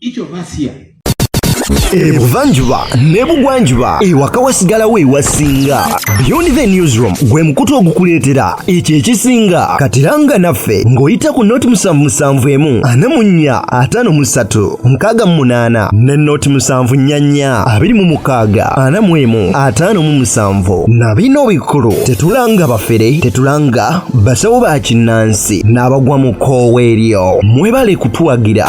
Each of us here ebuvanjuba ne bugwanjuba ewaka wasigalawo ewasinga beyond the newsroom gwe mukutu ogukuleetera ekyo ekisinga katiranga naffe ng'oyita ku noti musanvu musanvu emu ana mu nnya ataano mu ssatu nkaaga mu munaana ne noti musanvu nnya nnya abiri mu mukaaga ana mu emu ataano mu musanvu na bino bikulu tetulanga bafere tetulanga basawo ba kinnansi n'abagwa mu koowa eryo mwebale kutuwagira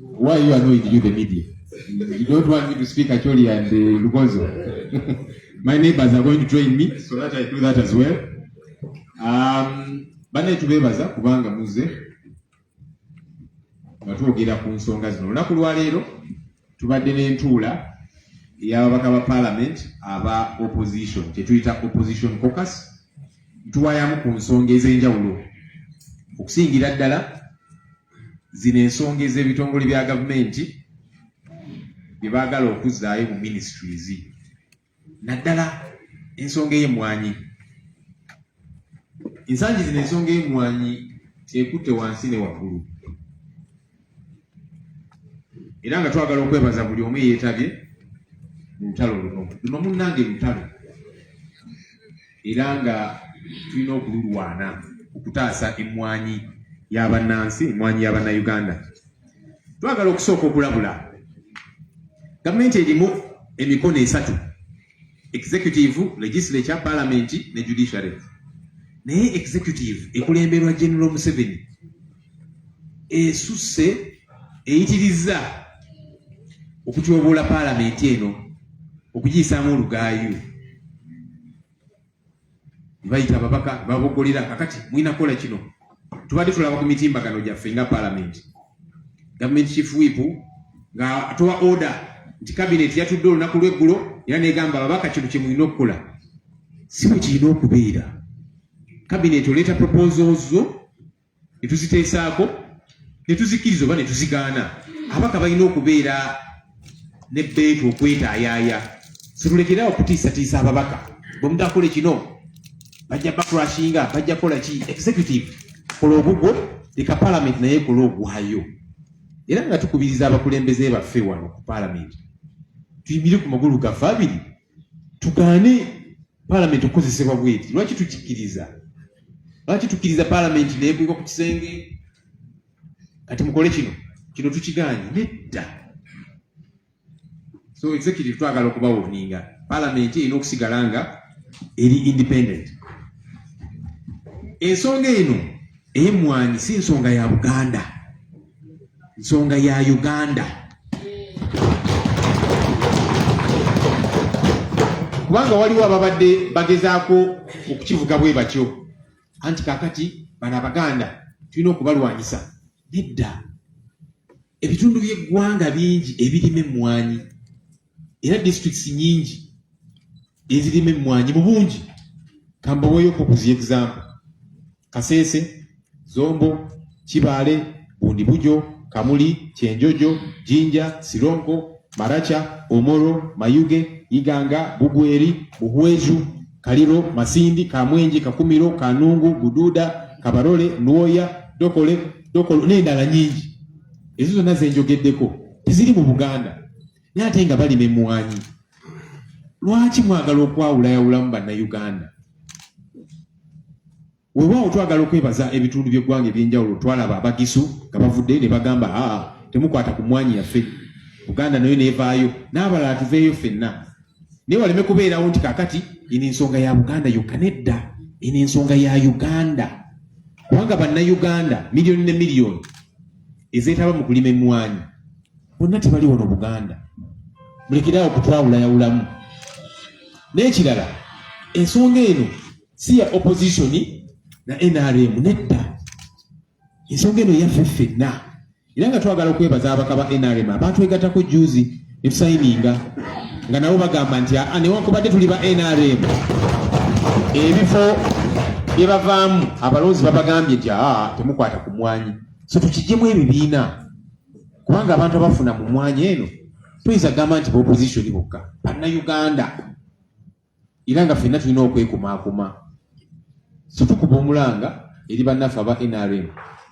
Why you annoyed you the media? You don't want me to speak actually and uh, Lugonzo. My neighbors are going to join me so that I do that as well. Um, bane tubebaza kubanga muze nga twogera ku nsonga zino olunaku lwaleero tubadde n'entuula eyababaka ba parliament aba opposition kyetuyita opposition cocus ntuwayamu ku nsonga ez'enjawulo okusingira ddala Zino ensonga ez'ebitongole bya gavumenti bye baagala okuzzaayo mu ministries naddala ensonga ey'emmwanyi. Ensangi zino ensonga ey'emmwanyi ekutte wansi ne waggulu era nga twagala okwebaza buli omu eyeetabye mu lutalo luno. Luno munnange lutalo. era nga tulina okululwana okutaasa emmwanyi y'abannansi emmwanyi y'abannayuganda twagala okusooka okulabula gavumenti erimu emikono esatu executive legislature palamenti ne judiciary naye executive ekulemberwa general museveni esusse eyitirizza okutyoboola paalamenti eno okugiyisaamu olugaayu bayita ababaka babogolera kakati mulina kukola kino tubadde tulaba ku mitimbagano gyaffe nga paalamenti gavumenti chief whip nga atowa order nti kabineti yatudde olunaku lweggulo era negamba ababaka kino kyemulina okukola si bwe kirina okubeera kabineti oleeta proposal zo ne tuziteesaako ne tuzikkiriza oba ne tuzigaana abaka balina okubeera ne bbeetu okwetaayaaya situlekere awo kutiisatiisa ababaka bwemudakole kino bajja bakurashinga bajja kola ki executive kola ogugwo leka palamenti naye kola ogwayo era nga tukubiriza abakulembeze baffe wano ku palamenti tuyimire ku magulu gaffe abiri tugaane palamenti okukozesebwa bweti lwaki tukikiriza lwaki tukiriza palamenti nekweka ku kisenge kati mukole kino kino tukiganye nedda so executive twagala okubawoninga palamenti erina okusigala nga eri independent ensonga eno eyemwanyi si nsonga ya buganda nsonga ya Uganda kubanga waliwo ababadde bagezaako okukivuga bwe batyo anti kakati bano abaganda tulina okubalwanyisa nedda ebitundu by'eggwanga bingi ebirima emmwanyi era districts nyingi ezirima emmwanyi mu bungi kambaweeyo kukuzi example kasese zombo kibaale bundibujo kamuli kyenjojo jinja sironko maracha omoro mayuge iganga bugweri buhweju kaliro masindi kamwenji kakumiro kanungu bududa kabarole nuoya dokole dokolo n'endala nyingi ezo zonna zenjogeddeko teziri mu buganda naye ate nga balima emwanyi lwaki mwagala okwawulayawulamu bannayuganda wewaawo twagala okwebaza ebitundu byeggwanga ebyenjawulo twalaba abagisu nga bavudde ne bagamba aa ah, temukwata ku mwanyi yaffe buganda nayo nevaayo n'abalala tuveeyo fenna naye waleme kubeerawo nti kakati ino ensonga ya buganda yokka nedda ino ensonga ya uganda kubanga bannayuganda miliyoni ne miliyoni ezeetaba mu kulima emmwanyi bonna tebali wano buganda mulekerawo okutwawulayawulamu n'ekirala ensonga eno si ya opposition na nrm nedda ensonga eno yaffe ffenna era nga twagala okwebaza abaka ba nrm abaatwegatako juzi netusayininga nga nabo bagamba nti aa newankubadde tuli ba nrm ebifo byebavaamu abalonzi babagambye nti aa temukwata ku mwanyi so tukijjemu ebibiina kubanga abantu abafuna mu mwanya eno tuyinza gamba nti baopposition bokka bannayuganda era nga fenna tulina okwekumaakuma so tukuba omulanga eri bannaffe aba nrm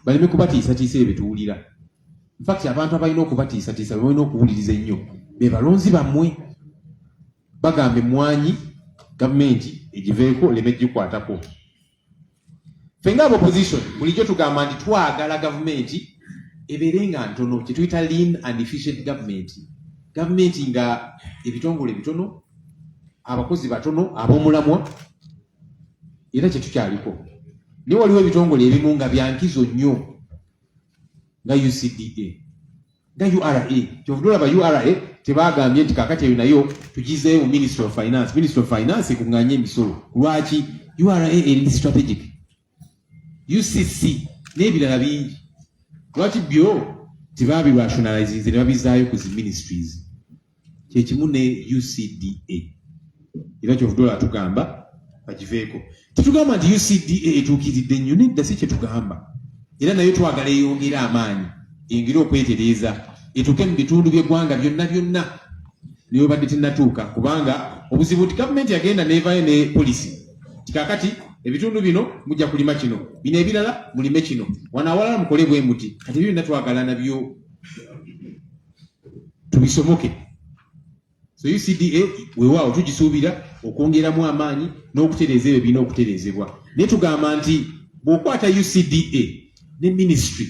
baleme kubatiisatiisa ebyo byetuwulira infact abantu abalina okubatiisatiisa bebalina okuwuliriza ennyo be balonzi bammwe bagamba emmwanyi gavumenti egiveeko leme gikwatako ffe nga opposition bulijjo tugamba nti twagala gavumenti ebeere nga ntono kyetuyita lean and efficient government gavumenti nga ebitongole bitono abakozi batono abomulamwa era kyetukyaliko naye waliwo ebitongole ebimu nga byankizo nnyo nga ucda nga ura kyovudde olaba ura tebagambye nti kakati eyo nayo tugizeeyo mu ministry of finance ministry of finance ekunganye emisolo lwaki ura eri strategic ucc n'ebirala bingi lwaki byo tebabirationalizinze ne babizaayo ku zi ministries kyekimu ne ucda era kyovudola atugamba bagiveeko tetugamba nti ucda etuukiridde nnyo nedda si kyetugamba era nayo twagala eyongere amaanyi engere okwetereeza etuuke mu bitundu by'eggwanga byonna byonna newebadde tenatuuka kubanga obuzibu nti gavumenti yagenda nevayo ne polisi kikakati ebitundu bino mujja kulima kino bino ebirala mulime kino wano awalala mukole bwe muti kati ebyo byonna twagala nabyo tubisomoke so ucda wewaawo tugisuubira okwongeramu amaanyi n'okutereeza ebyo birina okutereezebwa naye tugamba nti bw'okwata ucda ne ministry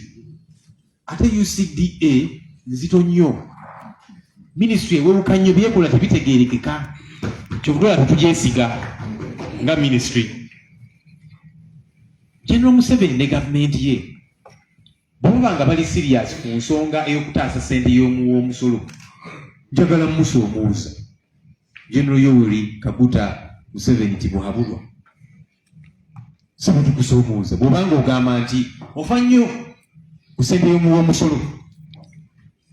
ate ucda nzito nnyo ministry ewewuka nnyo byekola tebitegeerekeka kyovudola tetugyesiga nga ministry general museveni ne gavumenti ye Bwe baba nga bali siriyaasi ku nsonga ey'okutaasa ssente y'omu w'omusolo, njagala mmusoomuuza General Yoweri Kaguta Museveni Tibuhaburwa. Si bwe tukusoomuuza bw'oba ng'ogamba nti ofa nnyo ku ssente y'omu w'omusolo,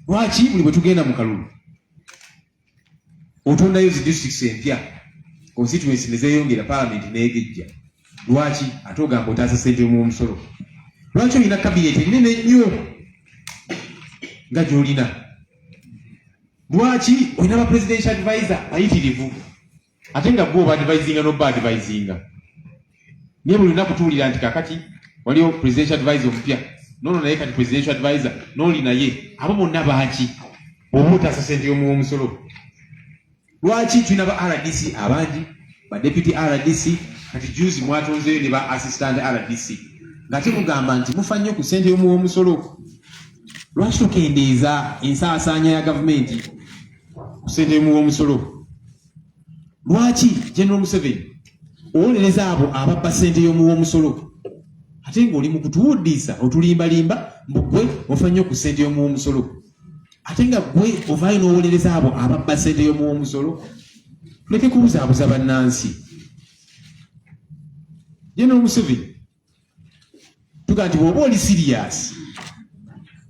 lwaki buli bwe tugenda mu kalulu otondayo zi districts empya constituency nezeyongera parliament negejja lwaki ate ogamba otaasa sente yomuomusolo lwaki olina kabinet enene nnyo nga gyolina lwaki olina ba presidential advisor ayitirivu ate nga gwe oba advisinga noba advisinga naye buli lunaku tuwulira nti kakati waliwo presidential advisor omupya nono naye kati presidential advisor noli naye abo bonna baaki oba otaasa sente yomuwa omusolo lwaki tulina ba rdc abangi ba deputy rdc kati juzi mwatonzeyo ne ba assistant rdc nga temugamba nti mufa nnyo ku sente yomuwa omusolo lwaki tukendeeza ensaasaanya ya gavumenti kusentemu womusolo lwaki general museveni owolereza abo ababba sente yomu womusolo ate ngaoli mukutuwuddiisa otulimbalimba mbugwe ofa nnyo ku sente yomu womusolo ate nga gwe ovaayo nowolereza abo ababba sente yomu womusolo tuleke kubuzaabuza bannansi general museveni tuga nti bwoba oli siriyasi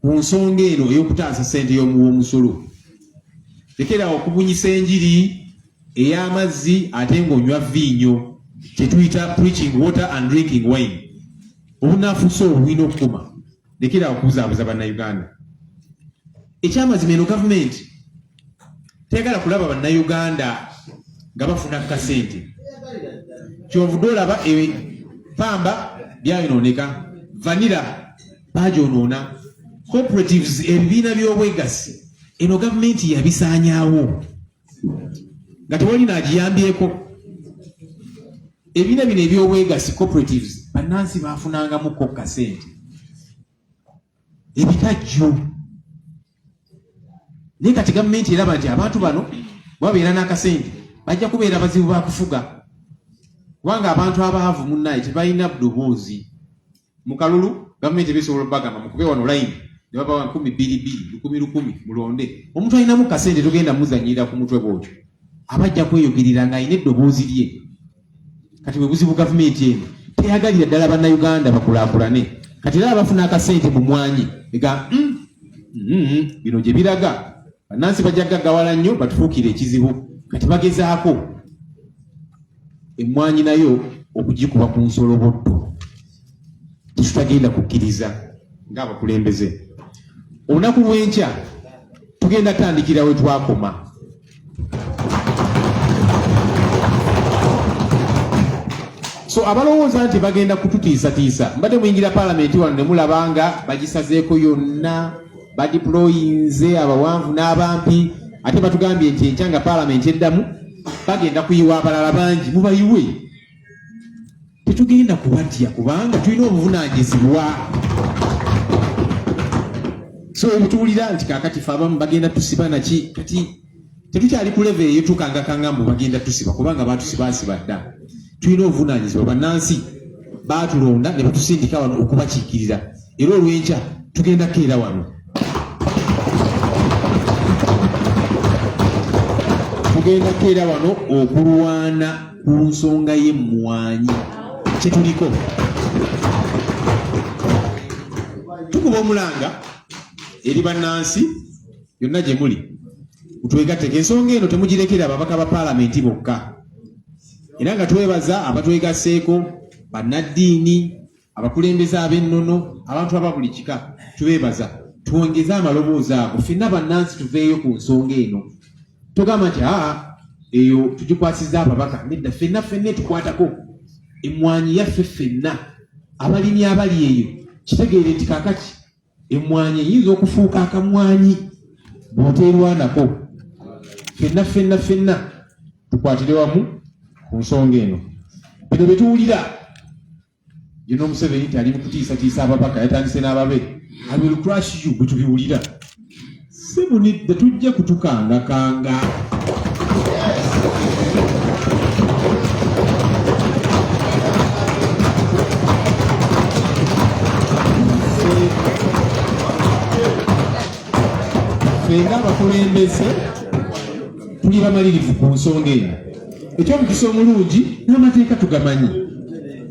ku nsonga eno ey'okutaasa ssente y'omuwomusolo lekerawo okubunyisa enjiri ey'amazzi ate ng'onywa viinyo kyetuyita preaching water and drinking wine obunafusa obulina okukuma lekera okubuzaabuza bannayuganda ekyamazima eno gavumenti teyagala kulaba bannayuganda nga bafuna kasente kyovude olaba e, pamba byayonooneka vanira bagyonoona cooperatives ebibiina by'obwegassi eno gavumenti yabisaanyaawo nga tewali naagiyambyeko ebibiina bino ebyobwegassi cooperatives bannansi baafunangamukko kasente ebikajjo naye kati gavumenti eraba nti abantu bano babeera n'akasente bajja kubeera bazibu bakufuga kubanga abantu abaavu munnaye tebalina ddoboozi Mu kalulu gavumenti eba esobola okubagamba mukube wano layini ne babawa nkumi bbiri bbiri lukumi lukumi mulonde omuntu alinamu kasente togenda muzanyirira ku mutwe bwotyo aba ajja kweyogerera ng'alina eddoboozi lye kati bwe buzibu gavumenti eno teyagalira ddala bannayuganda bakulaakulane kati era abafuna akasente mu mwanyi ega mm, mm, mm, bino gye biraga bannansi bajja gaggawala nnyo batufuukire ekizibu kati bagezaako emmwanyi nayo okugikuba ku nsolobotto tekitagenda kukkiriza ng'abakulembeze olunaku lw'enkya tugenda tandikira we twakoma so abalowooza nti bagenda kututiisatiisa mbadde muyingira palamenti wano ne mulaba nga bagisazeeko yonna badiployinze abawanvu n'abampi ate batugambye nti enkya nga paalamenti eddamu bagenda kuyiwa abalala bangi mubayiwe tetugenda kubatya kubanga tulina obuvunanyizibwa so obutuwulira nti kakati fe abamu bagenda tusiba naki kati tetukyali ku level eyo tukangakanga mbu bagenda tusiba kubanga batusibasiba dda tulina obuvunaanyizibwa bannansi baatulonda ne batusindika wano okubakiikirira era olw'enkya tugenda kukeera wano tugenda kukeera wano okulwana ku nsonga y'emmwanyi kyetuliko tukuba omulanga eri bannansi yonna gye muli mutwegatteko ensonga eno temugirekera ababaka ba paalamenti bokka era nga twebaza abatwegasseeko bannaddiini abakulembeze ab'ennono abantu aba buli kika tubeebaza twongeze amaloboozi ago fenna bannansi tuveeyo ku nsonga eno togamba nti aa ah, eyo tugikwasiza ababaka nedda fenna fenna etukwatako emmwanyi yaffe fenna abalimi abali eyo kitegeere nti kakati Emmwanyi eyinza okufuuka akamwanyi bw'oteerwanako. Fenna fenna fenna tukwatire wamu ku nsonga eno. Bino bye tuwulira yino Museveni tali mu kutiisatiisa ababaka, yatandise n'ababe. I will crush you bwe tubiwulira. si bunidde tujja kutukangakanga fenga abakulembeze tuli bamalirivu ku nsonga eno ekyomukisa omulungi n'amateeka tugamanyi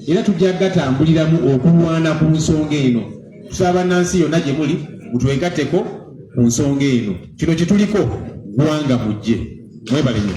era tujja gatambuliramu okulwana ku nsonga eno tusaba bannansi yonna gye muli mutwegatteko ku nsonga eno kino kyetuliko gwanga mujje mwebale nyo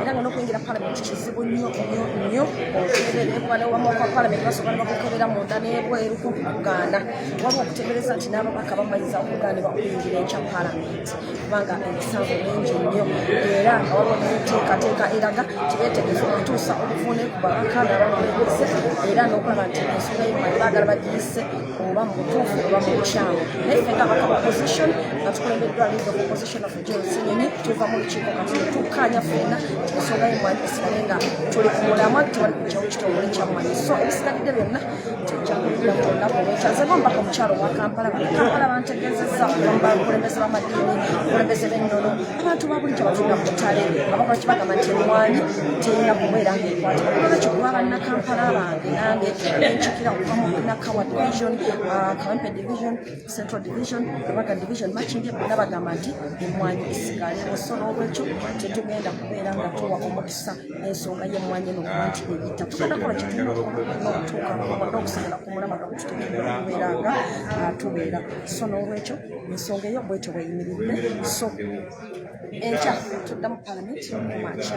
era nga n'okuyingira palamenti kizibu nnyo nnyo nnyo okuteebereebwalewamawaka palamenti basobola ne bakukebera munda n'ebweru kumpi kugaana waliwo okuteebereza nti n'ababaka bamaliriza okugaanibwa okuyingira ekya palamenti kubanga emisango mingi nnyo era nga waliwo n'enteekateeka eraga tibeetegefu okutuusa obuvuune ku babaka nabamuliise era n'okulaba nti ensonga yemali baagala bagiyise oba mu butuufu oba mu bukyamu naye ffe nga baka opposition nga tukulembeddwa league of opposition of Kinyonyi tuva mu lukiiko kati tukkaanya ffenna ensonga y'emmwanyi esigale nga tuli ku mulamwa tewali kujjawo kitongole kya mmwanyi so ebisigalidde byonna tujja kubiira ku lunaku olwekya nze gombaka omukyalo owa kampala kampala bantegeezezza abakulembeze b'amadiini abakulembeze b'ennono abantu babulijjo batunda ku ttale abakola kibagamba nti emmwanyi terina kubeera ng'ekwata olwekyo kuba bannakampala bange nange nenjukira okuva mu nakawa division ah, kawempe division central division ebaga division makindye bonna bagamba nti emmwanyi esigalewo so n'olwekyo tetugenda kubeera nga tuwa omukisa ensonga y'emmwanyi eno kuba nti eyita tugenda kola kituukaokusigala ku mulama nokututegeera okubeera nga ah, tubeera so n'olwekyo ensonga eyo bwetyo bweyimiridde so enkya tudda mu palamenti mumakya